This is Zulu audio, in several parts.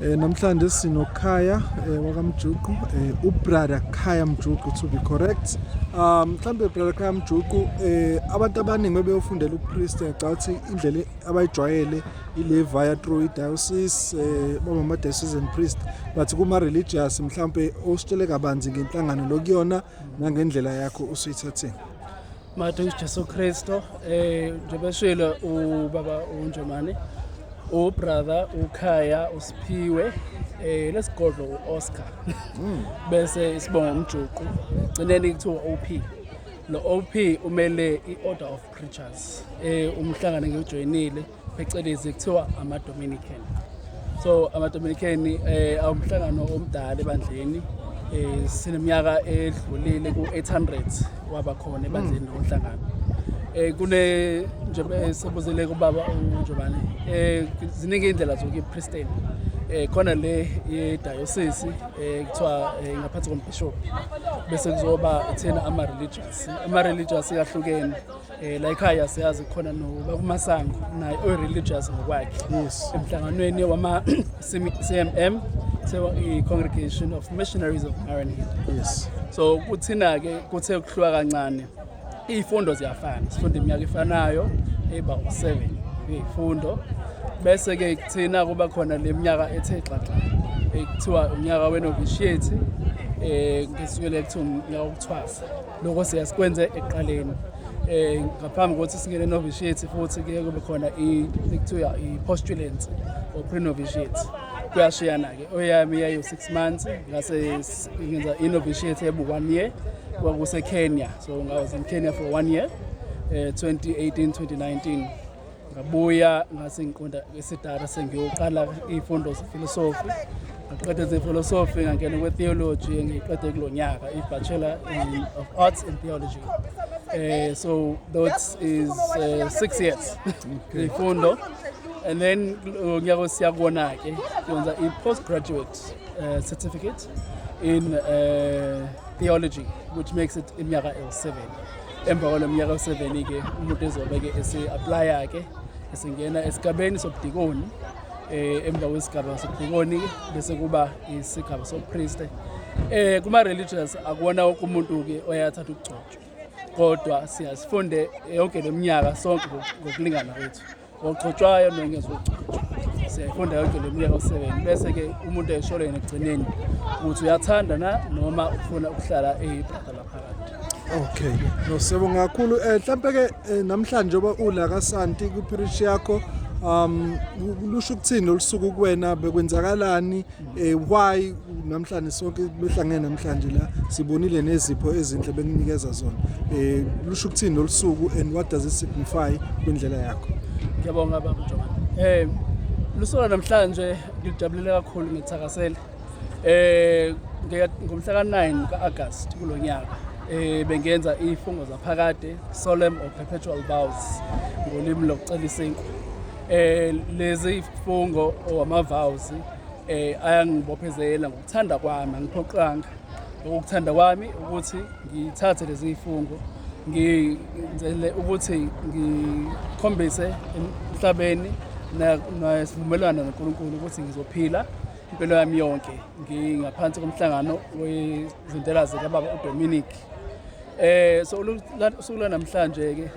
Eh namhlanje sino Khaya eh wakamjuqu eh ubrother Khaya Mjuqu to be correct. Um mhlambe brother Khaya Mjuqu eh abantu abaningi bebeyofundela upriest ecathi indlela abayijwayele ile via through idiocese eh baba ma diocesan priest but kuma religious mhlambe ositshele kabanzi ngenhlangano lokuyona nangendlela yakho usuyithatheni. Mathe uJesu Kristo eh njengoba shilo ubaba uNjomane ubrother ukhaya usiphiwe eh lesigodlo uOscar hmm. bese isibonga umjuqu gcineni kuthiwa OP lo OP umele iOrder of Preachers eh umhlangano ngiyojoyinile phecelezi kuthiwa ama-dominican so ama-dominican eh, awumhlangano omdala ebandleni eh, sineminyaka edlulile ku-800 waba khona ebandleni mm. nomhlangano eh, kune njengoba eh, sebuzele kubaba unjobane eh, ziningi iy'ndlela zokuyipristeni eh khona le yedayosisi eh kuthiwa eh, ngaphansi kombishop bese kuzoba thina ama religious ama religious yahlukene Eh la ekhaya siyazi khona no bakumasango naye o religious ngokwakhe. Yes. Emhlanganweni wama CMM so i congregation of missionaries of Maranatha. Yes. So kuthina ke kuthe ukuhluka kancane. Izifundo ziyafana. Sifunda iminyaka efanayo eba u7 izifundo. Bese ke kuthina kuba khona leminyaka ethe xaxa. Ekuthiwa unyaka wenovishiyeti eh ngisukele kuthi unyaka wokuthwasa. lokho siyasikwenze ekuqaleni eh ngaphambi kokuthi singene novitiate futhi kuye kube khona ikuthiwa i-postulants or pre-novitiate kuyashiyana-ke oyami yayo-six months ngase ngenza i-novitiate ebu-one year kwakusekenya so ngawas in kenya for one year um 2018 2019 ngabuya ngase ngiqonda esidara sengiyoqala iy'fundo zefilosofi ngaqeda zefilosofi ngangena kwe-theology engiyiqede kulo nyaka i-bachelor of arts in theology um so that is uh, six years ifundo and then ngiyako siyakubona-ke kwenza i-post graduate uh, certificate in uh, theology which makes it iminyaka ewu-seven emva kwalo mnyaka useveni-ke umuntu ezobe-ke ese-aplaya-ke esingena esigabeni sobudikoni um emva kwesigaba sobudikoni bese kuba isigaba sobupriste um kuma-religious akuwona woke umuntu-ke oyathatha ukugcotshwa kodwa siyazifunde yonke le minyaka sonke ngokulingana kwethu ogcotshwayo nongezogcotshwa siyayifunda yonke le minyaka oseven bese ke umuntu esholo yena ekugcineni ukuthi uyathanda na noma ufuna ukuhlala eyibrada laphakathi okay no siyabonga kakhulu um eh, mhlawumpe ke eh, namhlanje oba ula kasanti kwipirishi yakho um lusho ukuthini lolu suku kuwena bekwenzakalani Eh why namhlanje sonke behlangene namhlanje la sibonile nezipho ezinhle bekunikeza zona. Eh lusho ukuthini lolusuku and what does it signify kwindlela yakho? Ngiyabonga baba Mjomane. Eh lusuku namhlanje ngijabulile kakhulu ngithakasela. Eh ngomhla ka-9 ka-August kulo nyaka eh bengenza ifungo zaphakade solemn or perpetual vows ngolimi lokucelisa inkwa Eh lezi ifungo owamavawuzi eh ayangibophezela ngokuthanda kwami angiphoqanga ukuthanda kwami ukuthi ngithathe lezi ifungo ngizele ukuthi ngikhombise emhlabeni nesivumelwano noNkulunkulu ukuthi ngizophila impilo yami yonke ngingaphansi komhlangano wezintela zikababa uDominic eh so usuku lanamhlanje ke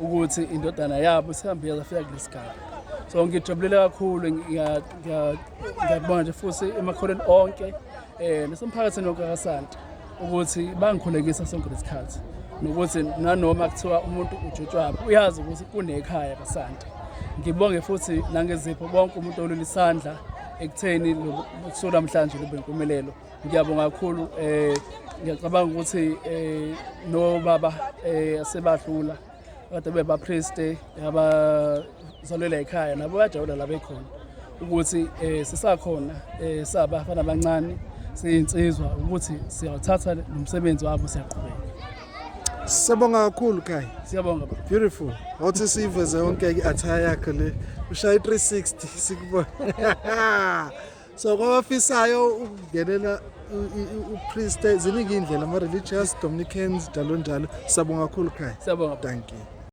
ukuthi indodana yabo sihambile zafika kulesigaba so ngijabulile kakhulu ngiyakubona nje futhi emakholweni onke um nasemphakathini wonke kasanti ukuthi bangikhulekisa sonke lesikhathi nokuthi nanoma kuthiwa umuntu ujotshwaphi uyazi ukuthi kunekhaya kasanti ngibonge futhi nangezipho bonke umuntu olula isandla ekutheni kusuku namhlanje lube impumelelo Ngiyabonga kakhulu um ngiyacabanga ukuthi um nobaba um asebahlula kade bebapriste abazalwela ekhaya nabo bayajabula la bekhona ukuthi um sisakhona um sabafana abancane siyinsizwa ukuthi siyawuthatha nomsebenzi wabo siyaqhubeka Siyabonga kakhulu Kai. Siyabonga baba. Beautiful. Wathi siveze yonke i-attire yakho le. Ushaya i360 sikubona. so kwabafisayo ukungenela upriste ziningi iy'ndlela ama-religious dominicans njalo njalo siyabonga kakhulu khaya siyabonga thank you